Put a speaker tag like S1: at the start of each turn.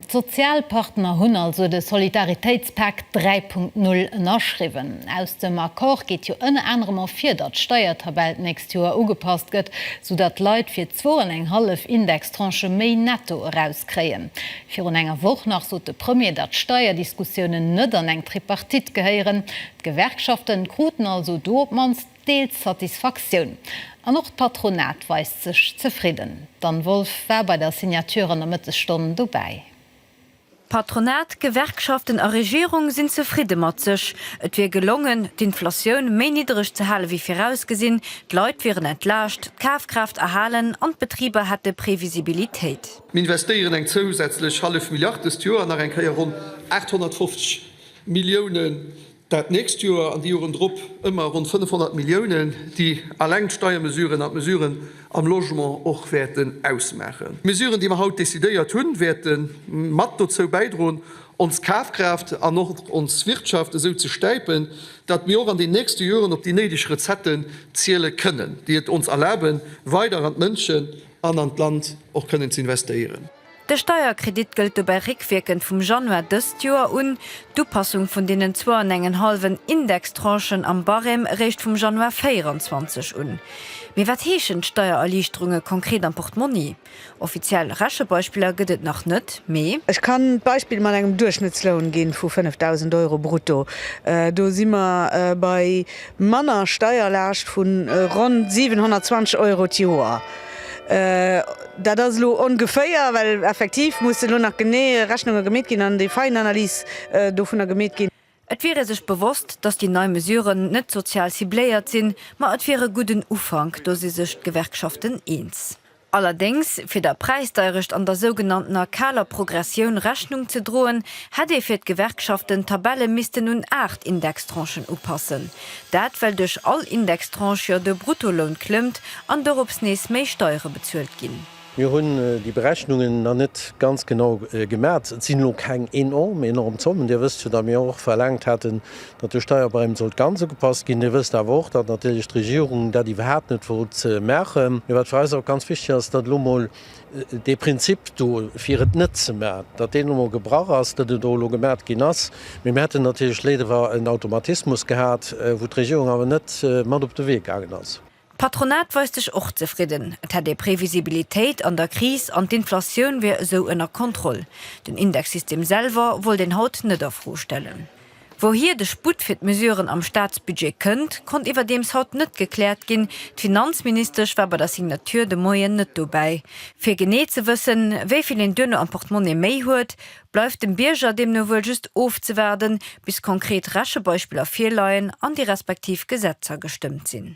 S1: D'Sozialpartner hunn also de Solidaritéitspak 3.0 ënnerschriwwen. Aus dem Accord geet jo ënner anerem ervir, datt d'Steiertabell d'nächst Joer ugepasst gëtt, sou datt d'Leit fir zwou an eng hallef Indextranchë méi netto erauskréien. Virun enger Woch nach sot de Premier, datt d'Steierdiskussiounen net an eng Tripartite gehéieren. D'Gewerkschafte kruten also do op d'mannst deelt d'Satisfaktioun an och d'Patronat weist sech zefridden. D'Anne Wolff war bei der Signature an der Mëttesstonn dobäi.
S2: Patronat, Gewerkschaften a Regierung sinn zefridde mat sech. Et wier gelongen, d'Inflatioun méi niddereg ze hale wéi virausgesinn, d'Leit wieren entlaascht, d'Kafkraaft erhalen an d'Betriber hätte Previsibilitéit. Mir investéieren
S3: eng zousätzlech hallef Milliard dëst Joer an nach eng Kéier ronn 850 Milliounen Dat nächst Joer an déi Joren drop ëmmer ronn 500 Milliounen, déi eleng d'Steiermesuren an d'Mesuren am Logement och wäerten ausmaachen. D'Mesuren, déi mer haut decidéiert hunn, wäerte mat dozou bäidroen, ons Kafkraaft an och ons Wirtschaft esou ze stäipen, datt mir och an den nächste Joren op déi néideg Recetten ziele kënnen, déi et ons erlaben, weider an d'Mënschen an an d'Land och kënnen ze investéieren. De Steierkredit
S2: gëllt dobäi réckwierkend vum Januar dëst Joer un, d'Upassung vun deenen zwouanengenhallwen Indextranchen am Barème réischt vum Januar 24 un. Mee wat heeschen d'Steiererliichterunge konkret am Portmonni? Offiziell Rechebeispiller gëtt et nach net, mee. Ech kann d'Beispill
S4: mat engem Duerchschnëttsloun ginn vu 5.000 Euro brutto. Do si mer bei manner Steierlaascht vu ronn 720 Euro d'Joer. Dat ass elo ongeféier, well effektiv musse elo nach genee Rechnunge gemeet ginn an déi Feinanalys dovunner gemeet ginn. Et wier ee sech
S2: bewosst, datt déi nei Mesuren net sozial cibléiert sinn, ma et wier e gudden Ufank, do si sech d'Gewerkschaften eens. Allerdéngs, fir der Präisdeierecht an der sougenanntener kaler Progressioun Rechnung ze droen, hätt ee fir d'Gewerkschaften d'Tabelle missten un aacht Indextranchen upassen. Dat well duerch all Indextranche jo de Bruttoloun klëmmt an dorops nees méi Steiere bezuelt ginn. Mir hunn déi
S5: Berechnungen nach net ganz genau gemat. Et sinn elo keng enorm, enorm Zommen. Dir wësst jo, datt mir och verlaangt haten, datt de Steierbarème sollt ganz ugepasst ginn. Dir wësst awer och, datt natierlech d'Regierung dat iwwerhaapt net wollt maachen. Mee wat fir eis och ganz wichteg ass, datt elo mol Dee Prinzip do, fir et net ze man, datt deen elo gebrach ass, datt en do elo gemat ginn ass, mee mir hätten natierlech léiwer en Automatismus gehat, wou d'Regierung awer net mat op de Wee gaangen ass. D'Patronat weist sech
S2: och zefridden. Et hätt ee Previsibilitéit an der Kris an d'Inflatioun wier esou ënner Kontroll. Den Indexsystem selwer wollt een haut net a Fro stellen. Wouhier de Sputt fir d'Mesuren am Staatsbudget kënnt, konnt iwwerdeems haut net gekläert ginn. D'Finanzministesch war bei der Signature de Moien net dobäi. Fir genee ze wëssen, wéi vill een duerno am Portemonnaie méi huet, bleift dem Bierger deemno wuel just ofzewaarden, bis konkret Rechebeispiller virleien an déi respektiv Gesetzer gestëmmt sinn.